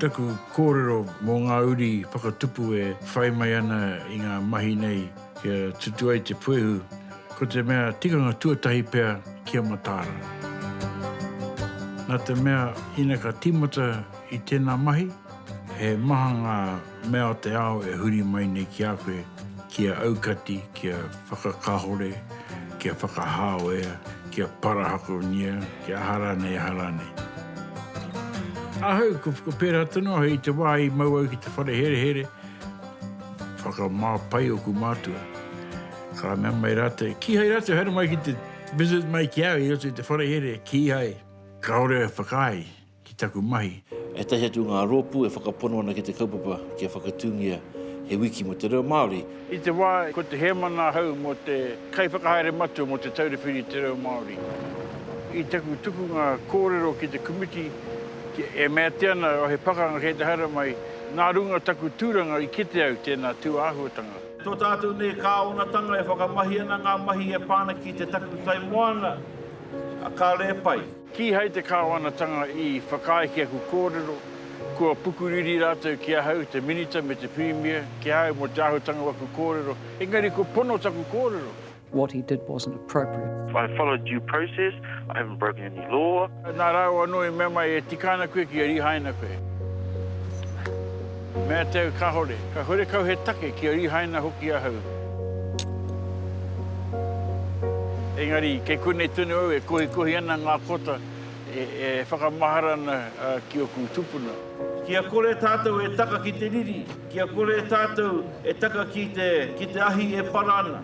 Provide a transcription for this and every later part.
Taku kōrero mō ngā uri whakatupu e whai mai ana i ngā mahi nei kia tutu ai te puehu, ko te mea tikanga tuatahi pea kia mataara. Nā te mea ina ka tīmata i tēnā mahi, he maha ngā. Mea o te ao e huri mai nei ki a koe, kia aukati, kia whakakahore, kia whakahāwea, kia parahakonia, kia aha rānei, aha rānei. Ahau, ko whakapērā tonu ahau i te wā i mau au ki te whare herehere, whakamā pai oku mātua. Ka mea mai rātou, kīhai rātou haere mai ki te visit mai ki au i roto i te whare here, kīhai. Kāore e whakaae ki taku mahi. Ētahi atu o ngā rōpū e whakapono ana ki te kaupapa kia whakatūngia he wiki mō te reo Māori. I te wā ko te hēmana ahau mō te Kaiwhakahaere Matua mō Te Taura Whiri i te Reo Māori, i taku tukunga kōrero ki te komiti e meatia ana he pakanga kei te haere mai, nā runga o taku tūranga i kite au tēnā tūāhuatanga. Tō tātou nei kāwanatanga e whakamahi ana ngā mahi e pā ana ki te takutai moana a Ka Rēpai. Kīhai te Kāwanatanga i whakaae ki aku kōrero, kua pukuriri rātou ki ahau, te Minita me te Pirimia, ki a au mō te āhutanga o aku kōrero, engari kua pono taku kōrero. What he did wasn't appropriate. I followed due process, I haven't broken any law. Nā rāua anō i mea mai, e tika ana koe kia rīhaina koe. Mea tau kahore, ka hore kau he take kia rihaina hoki ahau. Engari, kei konei tonu au e kohikohi ana nga kota e whakamahara ana ki oku tupuna. Kia kore tatou e taka ki te riri, kia kore tatou e taka ki te, ki te ahi e para ana.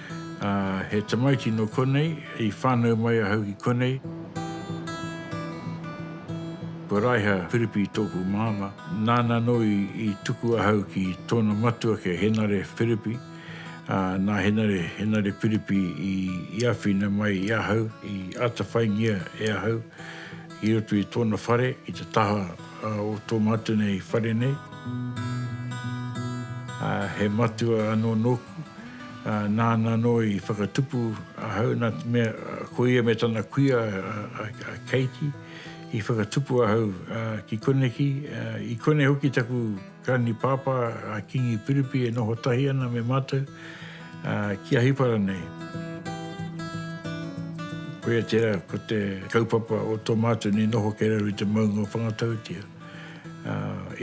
Ā, he tamaiti nō konei, i whānau mai ahau ki konei. Ko Raiha Piripi tōku māmā. Nāna anō i tuku ahau ki tōna matua ki a Henare Piripi. Ā, nā Henare, Henare Piripi i āwhina mai i ahau, i atawhaingia e ahau i roto i tōna whare, i te taha o tō mātou nei whare nei. Ā, he matua anō nōku. Nāna anō i whakatupu ahau nā te mea ko ia me tana kuia a Keiti i whakatupu ahau ki koneki. I konei hoki taku granipāpā a Kingi Piripi e noho tahi ana me mātou ki Ahipara nei. Koia tērā ko te kaupapa o tō mātou nei noho kei raro i te maunga o Whangatautia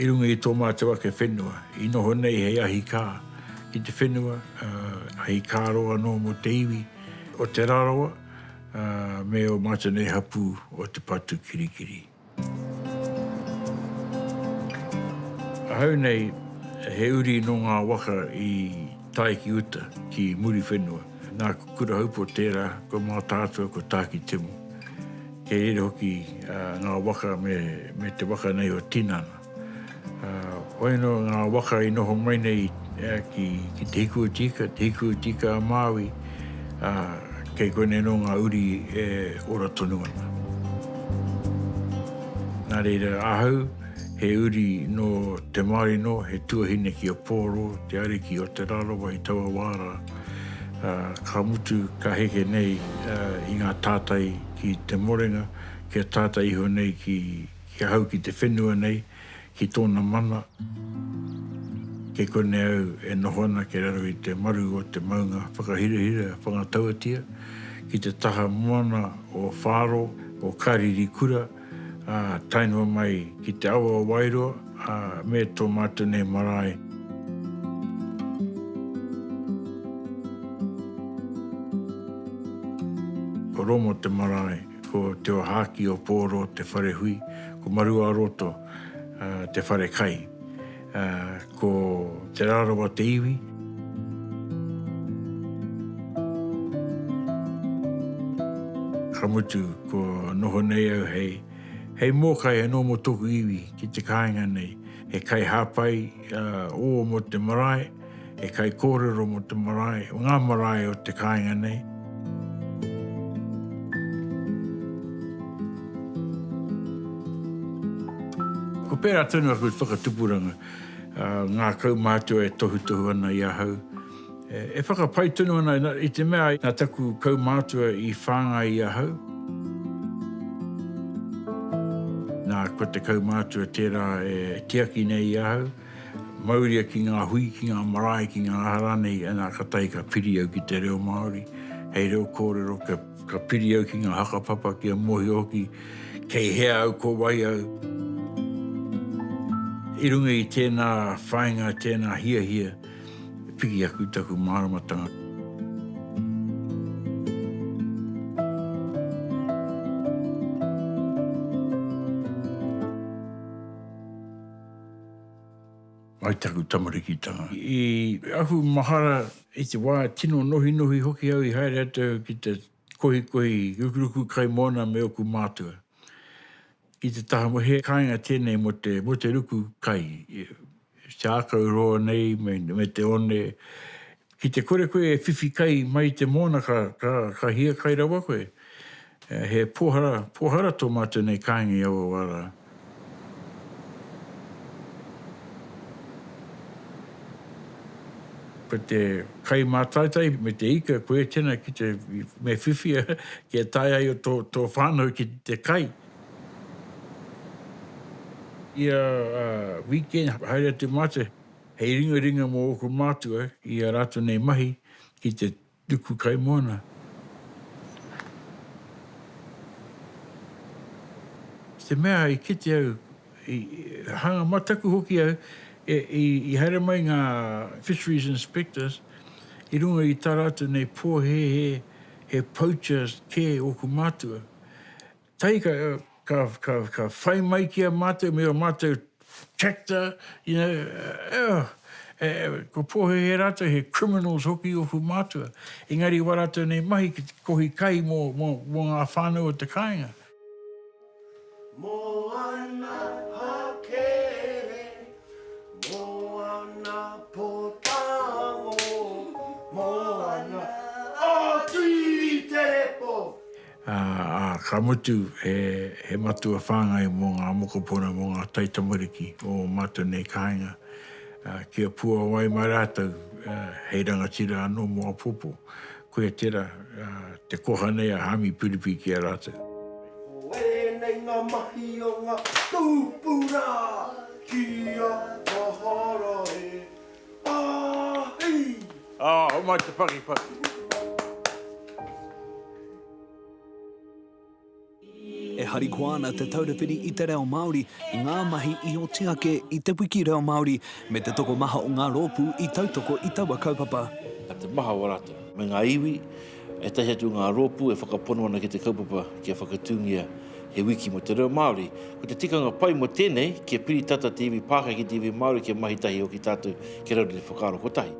i runga i tō mātou ake whenua i noho nei hei ahikā. ki te whenua, hei kāro anō mō te iwi o Te Rarawa me ō mātou nei hapū o te patu kirikiri. Ahau nei he uri nō ngā waka i tae ki uta, ki Muriwhenua. Nā Kurahaupo tērā, ko Mātaatua, ko Tākitimu. Kei reira hoki ngā waka me te waka nei o Tinana. Whai no nga waka i noho mai nei ki Te Hiku o Tika, Te Hiku o Tika a Maui, kei konei no nga uri e ora tonu ana. Na reira ahau he uri no te Maori no, he tuahine ki a Poro, te ariki o Te Rarawa i taua wa ra, ka mutu ka heke nei i nga tatai ki Te Morenga, kia tata iho nei ki Ki ahau ki te whenua nei, ki tōna mana, kei konei au e noho ana kei raro i te maru o te maunga whakahirahira whangatauatia, ki te taha moana o Whāro, o Kāririkura, ā, tae noa mai ki te awa o Wairoa, ā, me tō mātou nei marae. Ko Romo te marae. Ko Te Ohaaki o Pōro te whare hui, ko Maruaroto te whare kai. Ko Te Rarawa te iwi. Ka mutu, kua noho nei au hei mōkai anō mō tōku iwi ki te kāinga nei. he kaihāpai ō mō te marae, he kaikōrero mō te marae, mō ngā marae o te kāinga nei. Ko pērā tonu aku whakatupuranga, ngā kaumātua e tohutohu ana i ahau, E whakapai tonu ana i te mea nā taku kaumātua i whāngai i ahau. Nā, ko te kaumātua tērā e tiaki nei i ahau, mauria ki ngā hui, ki ngā marae, ki ngā aha rānei, anā, ka tahi ka piri au ki te reo Māori, hei reo kōrero, ka piri au ki ngā hakapapa kia mōhio hoki kei hea au, ko wai au. I runga i tēnā whāinga, tēnā hiahia, e piki aku i taku māramatanga. Mai taku tamarikitanga. I ahu mahara i te wā tino nohinohi hoki au i haere atu ki te kohikohi rukuruku kai moana me oku mātua. I te taha mo he kainga tenei mo te mo te ruku kai te akau roa nei me te one ki te kore koe e whiwhi kai mai i te moana ka ka ka hia kai rawa koe he pohara pohara to matou nei kainga i aua wa ra. Ko te kai mātaitai me te ika, koia tēnā ki te, me whiwhi kia tae ai tō, tō whānau ki te kai. Ia weekend, haere atu mātou, hei ringaringa mō ōku mātua i a rātou nei mahi ki te Ruku kaimoana. I te mea i kite au, i hanga mataku hoki au, i haere mai ngā fisheries inspectors i runga i tā rātou nei pōhēhē, he poachers kē ōku mātua. tahi ka ka ka ka whai mai ki a matou me o matou tractor you know oh e ko pohehe ratou he criminals hoki i oku matua engari wa ratou nei mahi ki te kohi kai mo mo mo nga whanau o te kainga. Moana hakere moana potango moana o tuiterepo. ā, ka mutu, he, he matua whāngai mō ngā mokopuna, mō ngā taitamariki o ō mātou nei kāinga, ā, kia puāwai mai rātou, ā, hei rangatira anō mō apōpō. Koia tērā, ā, te koha nei a Hāmi Piripi ki a rātou. Ko ēnei ngā mahi o ngā tūpuna ki a Mahara e. Ā, hau mai te pakipaki. E harikoa ana Te Taura Whiri i te Reo Māori i ngā mahi i oti ake i Te Wiki Reo Māori me te tokomaha o ngā rōpū i tautoko i taua kaupapa. Ka te maha o rātou. Me ngā iwi. E tahi atu ngā rōpū e whakapono ana ki te kaupapa kia whakatūngia he wiki mō te reo Māori. Ko te tikanga pai mō tēnei, kia piri tata te iwi Pākehā ki te iwi Māori kia mahi tahi hoki tātou kia raru te whakaaro kotahi.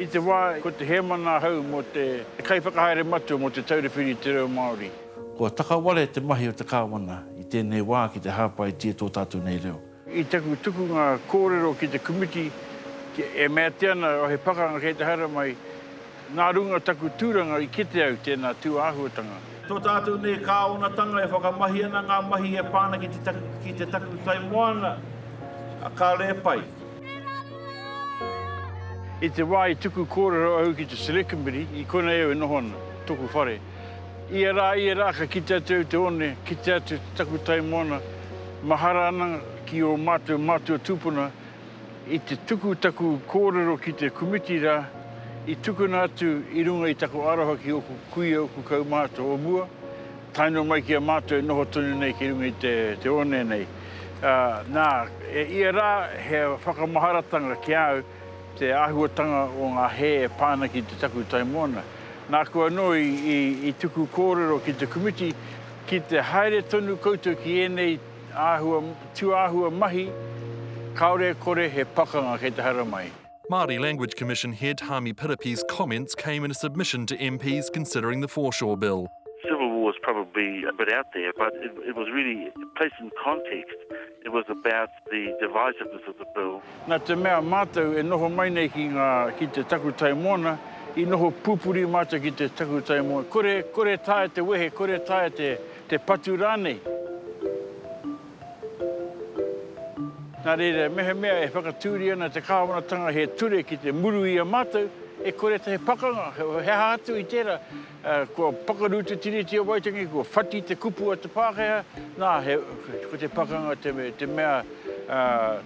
I te wā ko te hēmana ahau mō te kaiwhakahaere matua mō Te Taura Whiri i te Reo Māori. Kua takaware te mahi o te Kāwana i tēnei wā ki te hāpaitia tō tātou nei reo. I taku tukunga kōrero ki te komiti, e mea atu ana he pakanga kei te haere mai, nā runga taku tūranga i kite au tēnā tūāhuatanga. Tō tātou nei kāonatanga e whakamahi ana ngā mahi e pā ana ki te takutai moana a Kare Pai. I te wā i tuku kōrero au ki te Select Committee, i konei au e noho ana, tōku whare. Ia rā, ia rā ka kite atu au te one, kite atu te taku tai moana, mahara ana ki ō mātou mātua tūpuna i te tuku taku kōrero ki te komiti rā i tukuna atu i runga i taku aroha ki ōku kuia, ōku kaumātua o mua, tae noa mai ki a mātou e noho tonu nei ki runga i te one nei. Ā, nā, e ia rā he whakamaharatanga ki a au, Te āhuatanga o ngā hē e pā ana ki te takutai moana. Nāku anō i tuku kōrero ki te komiti, ki te haere tonu koutou ki ēnei tūāhua mahi, kāore e kore he pakanga kei te haramai. Māori Language Commission head Hami Piripi's comments came in a submission to MPs considering the Foreshore Bill. Civil war is probably a bit out there, but it was really placed in context, it was about the divisiveness of the bill. Nā te mea mātou e noho mai nei ki ngā, ki te takutai moana, i noho pūpuri mātou ki te takutai moana, kore, kore taea te wehe, kore taea te, te patu rānei. Nā reira, mehemea e whakatūria ana te Kāwanatanga he ture ki te muru i a mātou, e kore te he pakanga, he aha atu i tērā, Kua pakaru te Tiriti o Waitangi, kua whati te kupu a te Pākehā, nā, ko te pakanga te mea,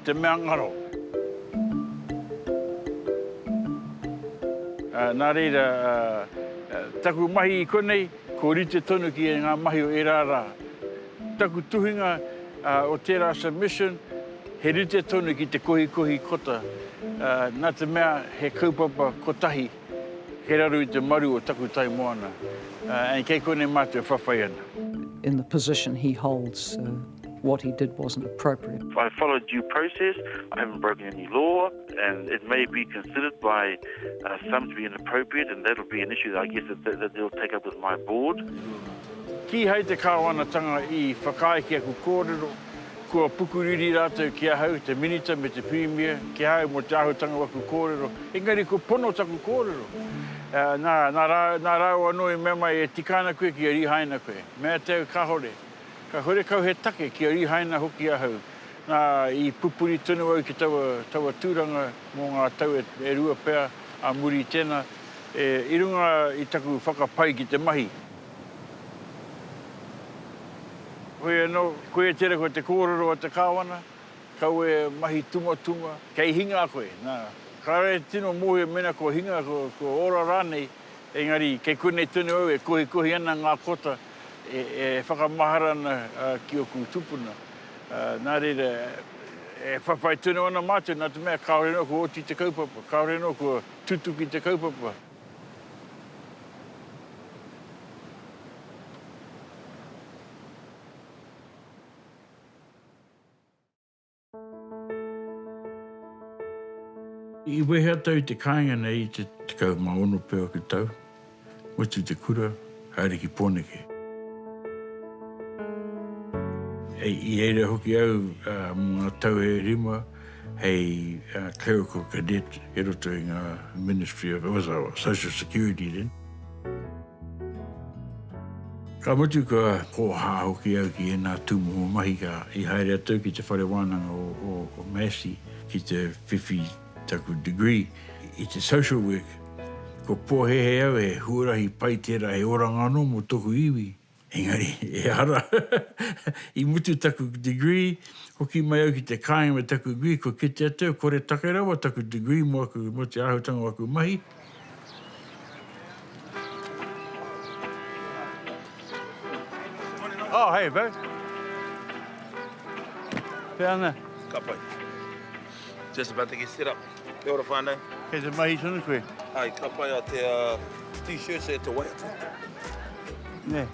te mea ngaro. Nā reira, taku mahi i konei, kua rite tonu ki ngā mahi o ērā rā. Taku tuhinga o tērā submission, he rite tonu ki te kohikohi kota, nā te mea he kaupapa kotahi. Kei raro i te maru o taku tai moana and kei konei mātou e whawhai ana. In the position he holds, what he did wasn't appropriate. I have followed due process, I haven't broken any law and it may be considered by some to be inappropriate and that will be an issue that I guess that they will take up with my board. Kīhai te Kāwanatanga i whakaae ki aku kōrero, Kua pukuriri rātou ki ahau, te Minita me te Pirimia, ki a au mō te āhutanga o aku kōrero, engari kua pono taku kōrero. Nā, nā rāua anō i mea mai, e tika ana koe kia rihaina koe. Me āta au, kāhore. Ka hore kau he take kia rihaina hoki ahau. Nā, i pupuri tonu au ki taua, taua tūranga mō ngā tau e, e rua pea ā muri i tēnā, e, i runga i taku whakapai ki te mahi. Hoi anō, koia tērā koe te kōrero a te Kāwana, kau e mahi tumatunga, kei hinga koe, nā. Kāre e tino mōhio mēnā kua hinga, kua ora rānei, engari kei konei tonu au e kohikohi ana ngā kota e whakamahara ana ki ōku tupuna. Nā reira, e whawhai tonu ana mātou nā te mea kāore anō kua oti te kaupapa, kāore anō kua tutuki te kaupapa. I wehe atu au i te kāinga nei i te 16 pea o te tau, mutu i te kura, haere ki Pōneke. I reira hoki au mō ngā tau e rima. hei clerical cadet i roto i ngā Ministry of, was it Social Security then? Ka mutu kua kōhā hoki au ki ēnā tūmomo mahi ka i haere atu au ki te whare wānanga o, o Massey ki te whiwhi taku degree i te social work. Ko pōhēhē au he huarahi pai tērā, he oranga anō mō tōku iwi. Engari, ehara, i mutu taku degree, hoki mai au ki te kāinga me taku degree, kua kite atu au, koretake rawa taku degree mō aku, mō te āhuatanga o aku mahi. Oh, hey, bro. Pēana. Ka pai. Just about to get set up. Kia ora whānau. Kei te mahi tonu koe? Hai, ka pai a te uh, t-shirts e te waiata. Ne.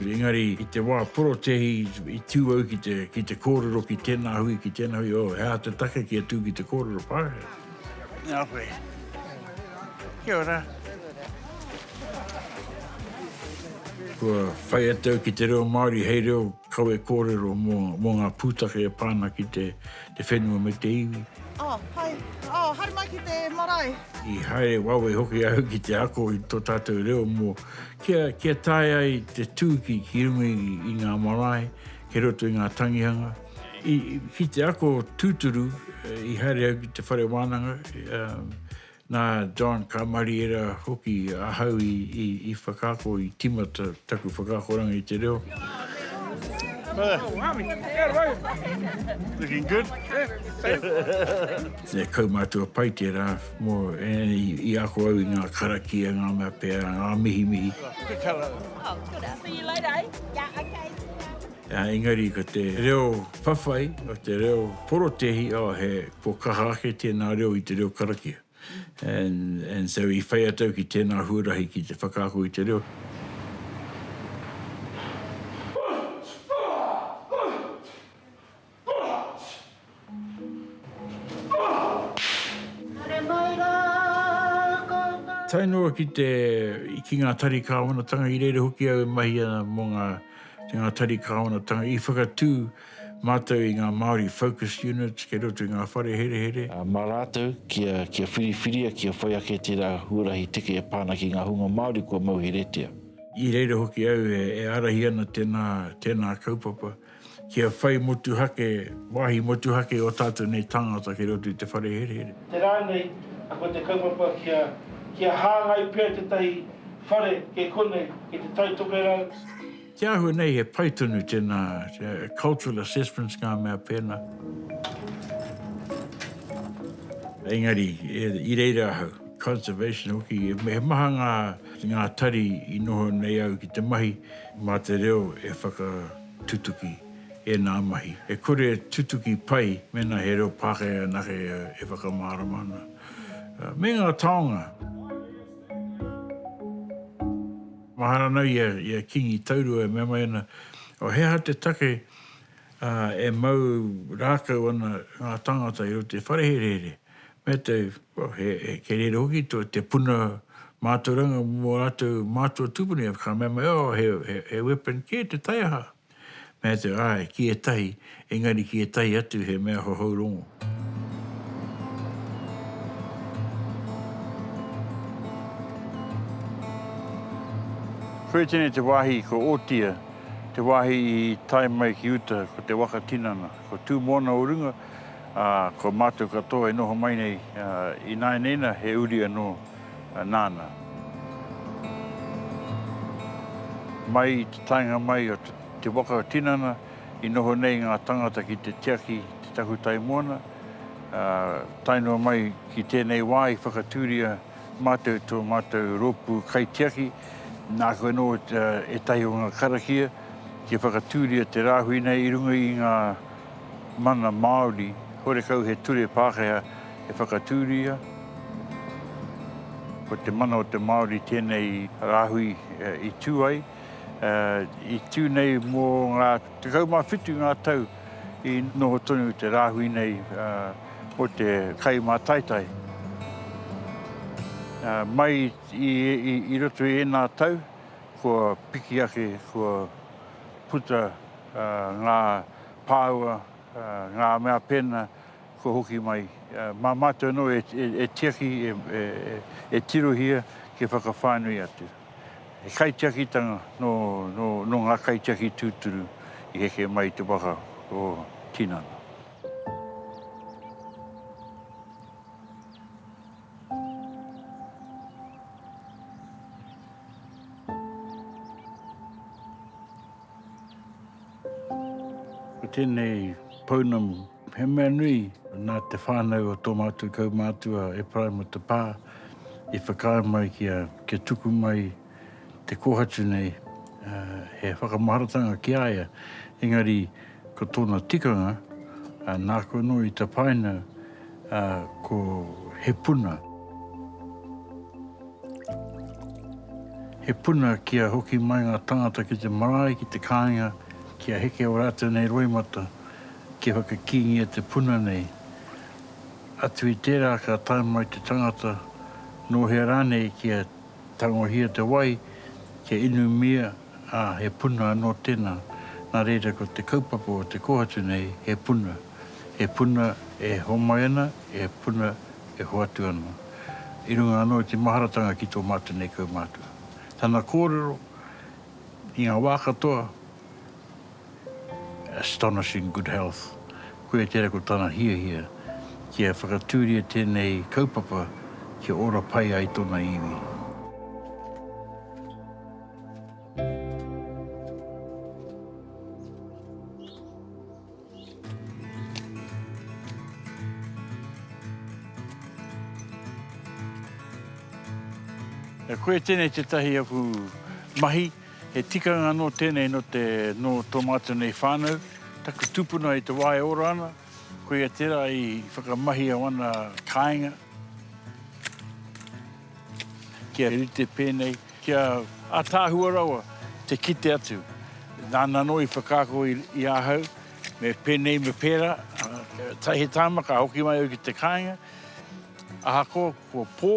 Engari, i te wā porotehi, i tū au ki te, ki te kōrero ki tēnā hui, ki tēnā hui, oh, he aha te take ki a tū ki te kōrero Pākehā? Nā koe. Kia ora. Kua whai atu au ki te reo Māori hei reo Kawe kōrero mō ngā pūtake e pā ana ki te whenua me te iwi. Oh, hai. Oh, haere mai ki te marae. I haere wawe hoki au ki te ako i tō tātou reo mō kia, kia tae ai te tūki ki runga i ngā marae, kei roto i ngā tangihanga. I, ki te ako tūturu, i haere au ki te whare wānanga, Nā John Kamariera hoki ahau i whakaako, i tīmata taku whakaakoranga i te reo. He kaumātua pai tērā mō i ako au i ngā karakia, ngā mea pea, ngā mihimihi. Engari ko te reo whawhai, ko te reo porotēhi, oh he Kua kaha ake tēnā reo i te reo karakia and and so i whai atu au ki tēnā huarahi ki te whakaako i te reo. Tae noa ki te ki ngā tari kāwanatanga i reira hoki au e mahi ana mō ngā ngā tari kāwanatanga i whakatū Mātou i ngā Māori Focus Units kei roto i ngā whare herehere. Mā rātou, kia, kia whiriwhiria, kia whai ake tērā huarahi teke e pā ana ki ngā hunga Māori kua mauheretia. I reira hoki au e, e ārahi ana tēnā, tēnā kaupapa, kia whai motuhake, wāhi motuhake ō tātou nei tāngata kei roto i te whare herehere. Te rā nei, ko te kaupapa kia, kia hāngai pea tētahi whare kei konei, kei te taitokerau. Te āhua nei he pai tonu tēnā cultural assessments ngā mea pēnā. Engari, i reira ahau, conservation hoki, he maha ngā, ngā tari i noho nei au ki te mahi mā te reo e whakatutuki ēnā mahi. E kore e tutuki pai mēnā he reo Pākehā anake e whakamārama ana. Me ngā taonga. Mahara ana ia i a Kingi Taurua e mea mai ana, O he aha te take e mau rākau ana ngā tāngata i roto i te whareherehere? Mea te, he kerēre hoki te puna mātauranga mō rātou mātua tūpuna, ka mea mai, O, he weapon kē te taiaha. Me atu, āe, ki ētahi, engari ki ētahi atu he mea hohou rongo. Whētene te wāhi ko Otia, te wāhi i tae mai ki uta ko te waka tinana, ko Tūmoana o runga, ā, ko mātou katoa e noho mai nei, ināianeina he uri anō Nana. Mai i te taenga mai o te waka o tinana i noho nei nga tangata ki te tiaki i te takutai moana, tae noa mai ki tenei wa i whakaturia matou to matou ropu kaitiaki, naku ano etahi o nga karakia kia whakaturia te rahui nei i runga i nga Mana Māori, horekau he ture Pākehā e whakatūria. Ko te mana o te Māori tēnei rāhui i tū ai. I tū nei mō ngā 17 ngā tau i noho tonu te rāhui nei mō te kai mātaitai. Mai i roto i ēnā tau, kua piki ake, kua puta ngā. pāua, ngā mea pēnā kua hoki mai. Mā mātou anō e tiaki, e tirohia kia whakawhānui atu. He kaitiakitanga nō ngā kaitiaki tūturu i heke mai i te waka o tinana. Ko tēnei pounamu, he mea nui nā te whānau o tō mātou kaumātua Ephraim o te Pā i whakaae mai kia tuku mai te kōhatu nei, he whakamaharatanga ki a ia, engari, Ko tōna tikanga, nāku anō i tapaina ko He Puna. He puna kia hoki mai ngā tāngata ki te marae, ki te kāinga, kia heke ō rātou nei roimata, kia whakakīngia te puna nei. Atu i tērā ka tae mai te tangata, nō hea rānei kia tangohia te wai, kia inumia, ā, he puna anō tēnā, nā reira ko te kaupapa o te kōhatu nei he puna, he puna e homai ana, he puna e hoatu ana, i runga anō i te maharatanga ki tō mātou nei kaumātua. Tana kōrero, i ngā wā katoa, astonishing good health, koia tērā ko tana hiahia kia whakatūria tēnei kaupapa kia ora pai ai tōna iwi. E koe tēnei tētahi aku mahi, he tikanga anō tēnei nō te, nō tō mātou nei whānau, taku tūpuna i te wā e ora ana, koia tērā i whakamahia wana kāinga, kia rite pēnei, Ki a Ataahua rawa te kite atu. Nāna anō i whakaako i ahau me pēnei me pērā, ā, he tāima ka hoki mai au ki te kāinga, ahakoa kua pō,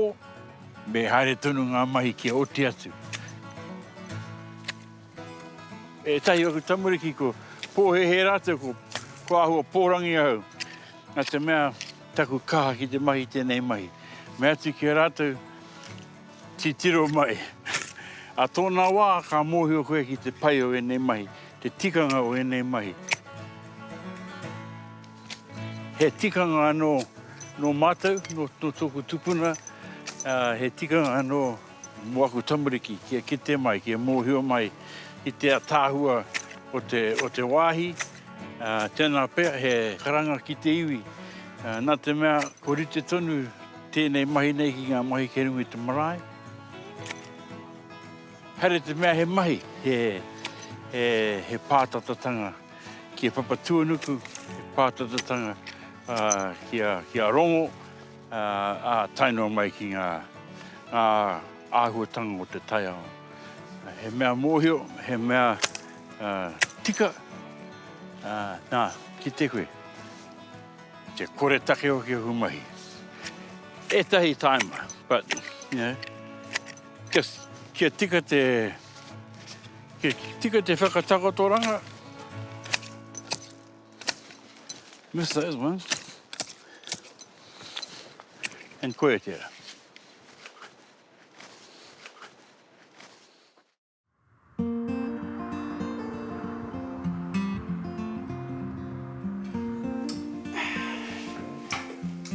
me haere tonu ngā mahi kia oti atu. Ētahi o aku tamariki kua pōhēhē rātou ko, ko āhua pōrangi ahau, nā te mea taku kaha ki te mahi tēnei mahi. Mea atu ki a rātou, Titiro mai. Ā tōna wā, ka mōhio koe ki te pai o ēnei mahi, te tikanga o ēnei mahi. He tikanga anō nō mātou, nō tōku tupuna, he tikanga anō mō aku tamariki kia kite mai, kia mōhio mai i te ataahua o te wāhi. Tēnā pea he karanga ki te iwi, nā te mea ko rite tonu Tēnei mahi nei ki ngā mahi kei runga i te marae. Haere te mea he mahi, he, he, he pātatatanga ki a Papatuanuku, he pātatatanga uh, ki, a, ki a Rongo, uh, a tainoa mai ki ngā, ngā āhuatanga o te taiao. He mea mōhio, he mea uh, tika, uh, nā, ki te koe. Te koretake o kia humahi. Etahi taima, but, you know, just kia tika te, kia tika te whakatakotoranga. Miss those ones. And koe tera.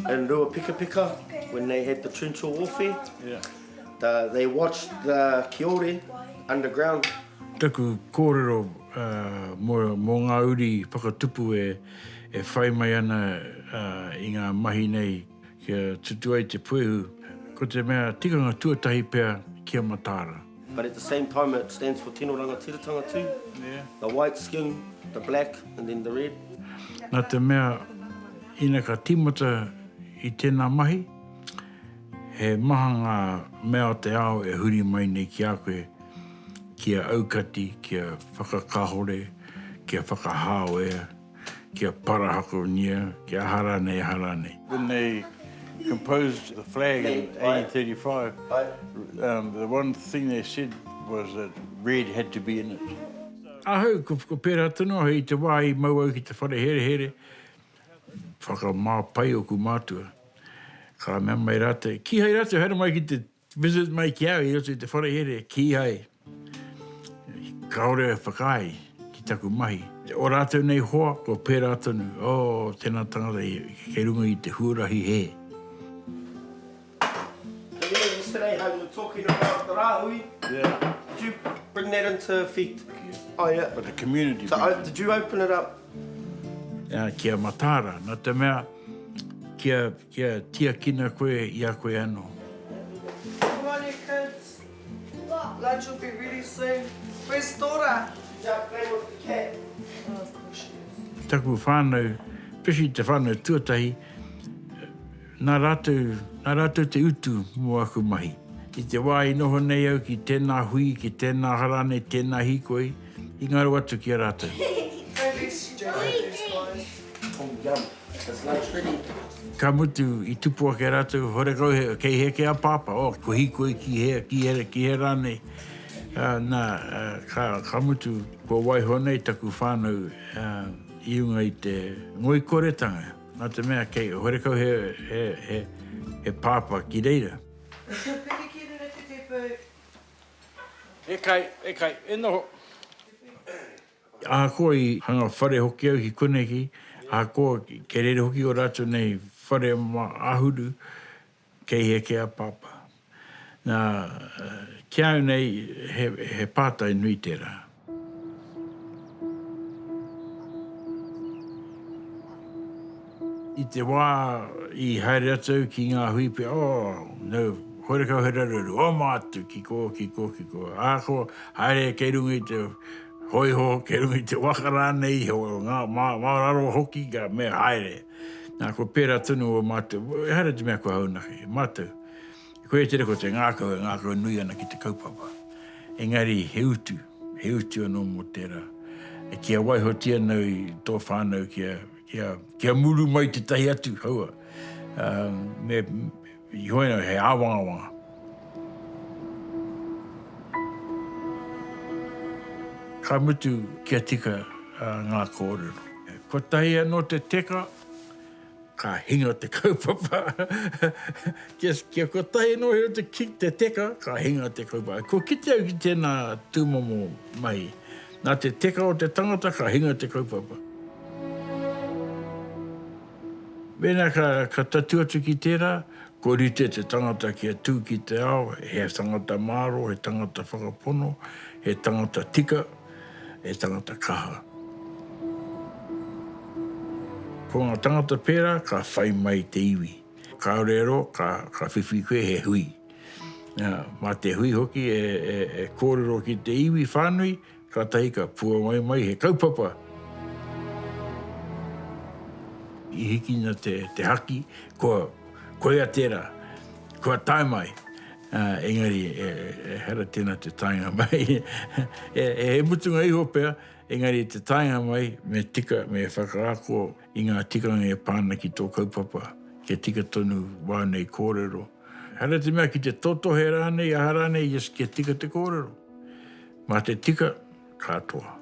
In Ruapikapika, when they had the trencher warfare, they watched the Kiore underground. Taku kōrero mō ngā uri whakatupu e whai mai ana i ngā mahi nei. Kia tutu ai te puehu, ko te mea tikanga tuatahi pea ki a Mataara. But at the same time it stands for Tino Rangatiratanga too, the white skin, the black and then the red. Na te mea, ina ka timata i tena mahi, he maha nga mea o te ao e huri mai nei ki a koe, kia aukati, kia whakakahore, kia whakahao e. kia parahakonia, kia aha rānei, aha rānei. When they composed the flag in 1835, the one thing they said was that red had to be in it. Ahau, ko pērā tonu ahau i te wā i mau au ki te whare herehere, whakamā pai oku mātua, ka mea mai rātou, kīhai rātou haere mai ki te. Visit mai ki au i roto i te wharehere, kīhai kāore e whakaae ki taku mahi. O rātou nei hoa, kua pērā tonu, oh, tēnā tangata kei runga i te huarahi hē. Yesterday how you were talking about the Rahui, did you bring that into effect? Oh yeah. But the community did. So did you open it up? Kia Mataara, nā te mea, kia. Kia tiakina koe i a koe anō. Good morning kids. Lunch will be ready soon. Where's Dora? She's out playing with the cat. Oh of course she is. Taku whānau, especially te whānau tuatahi, nā rātou, nā rātou te utu mō aku mahi. I te wā i noho nei au ki tēnā hui, ki tēnā hara nei, tēnā hīkoi, i ngaro atu ki a rātou. Don't be stupid these guys. Ka mutu, i tupu ake rātou, horekau he, kei heke a Pāpā, o, ko Hīkoi ki he, ki he, ki he rā nei. Ā, nā, ā, ka, ka mutu, kua waiho nei taku whānau, ā, i runga i te ngoikoretanga, nā te mea kei, horekau he, he, he, he Pāpā ki reira. E kai, e kai, e noho. Ahakoa i hanga whare hoki au ki koneki, ahakoa kei rere hoki o ratou nei whare ma Ahuru, kei hea kē a Papa? Na, ki a au nei, he, he pātai nui tērā. I te wā i haere atu au ki ngā hui pea, oh, no, horekau he raruraru, oma atu, ki kō, ki kō, ki kō. Ahakoa, haere kei runga i te hōiho, kei runga i te waka rānei iho, ngā, mā, mā raro hoki ka mea, haere. Nā, kua pērā tonu ō mātou, ehara i te mea kua haunaki, mātou, koia tērā ko te ngākau e ngākau nui ana ki te kaupapa. Engari, he utu, he utu anō mō tērā. Kia waihotia nei tō whānau kia. Ia, kia muru mai tetahi atu, kaua, me, i hoi ana, he awangawanga. Ka mutu kia tika nga korero. Kotahi ano te teka, ka hinga te kaupapa. Kia kotahi ano te teka, ka hinga te kaupapa. Kua kite au ki tena tumomo mahi. Nā te teka o te tangata ka hinga te kaupapa. Mēnā ka tatū atu ki tērā, kua rite te tangata kia tū ki te ao, he tangata mārō, he tangata whakapono, he tangata tika, he tangata kaha. Ko ngā tangata pērā ka whai mai te iwi. Kāore e roa, ka whiwhi koe he hui. Mā te hui hoki e kōrero ki te iwi whānui, kātahi ka puawai mai he kaupapa. I hikina te haki, kua koia tērā, kua tae mai. Engari, ehara tēnā te taenga mai. He mutunga iho pea, engari te taenga mai, me tika, me whakaako. i ngā tikanga e pā ana ki tō kaupapa kia tika tonu wā nei kōrero. Haere te mea ki te totohe rānei, aha rānei, just kia tika te kōrero. Mā te tika, katoa.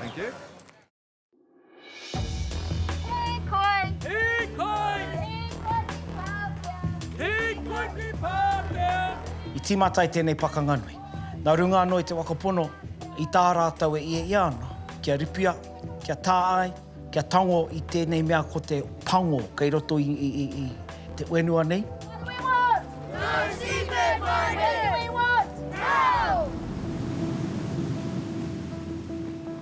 Thank you. I tīmata ai tēnei pakanga nui. Nā runga anō i te waka pono, i tā rātou e iea iea ana, kia ripia, kia tā ai, Kia tango i tēnei mea ko te pango kei roto i te whenua nei. What do we want? No seabed mining! What do we want? Now!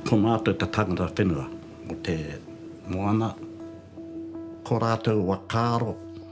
Ko mātou te tangata whenua o te moana, ko rātou whakaaro.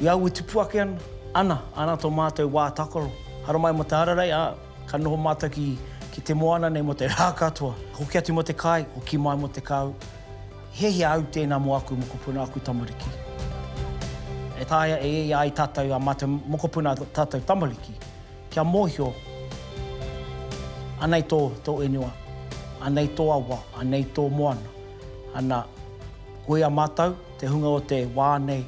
I au e tupu ake ana. Ana, ana to matou wa takaro. Haramai mo te hararei, a, ka noho matou ki, ki te moana nei mo te ra katoa. Hoki atu mo te kai, hoki mai mo te kau. Hiahia au tena mo aku mokopuna, aku tamariki. E taea e ia ai tatou a matou mokopuna, tatou tamariki, kia mohio, anei to, to inua, anei to awa, anei to moana. Ana, koia matou, te hunga o te wa nei.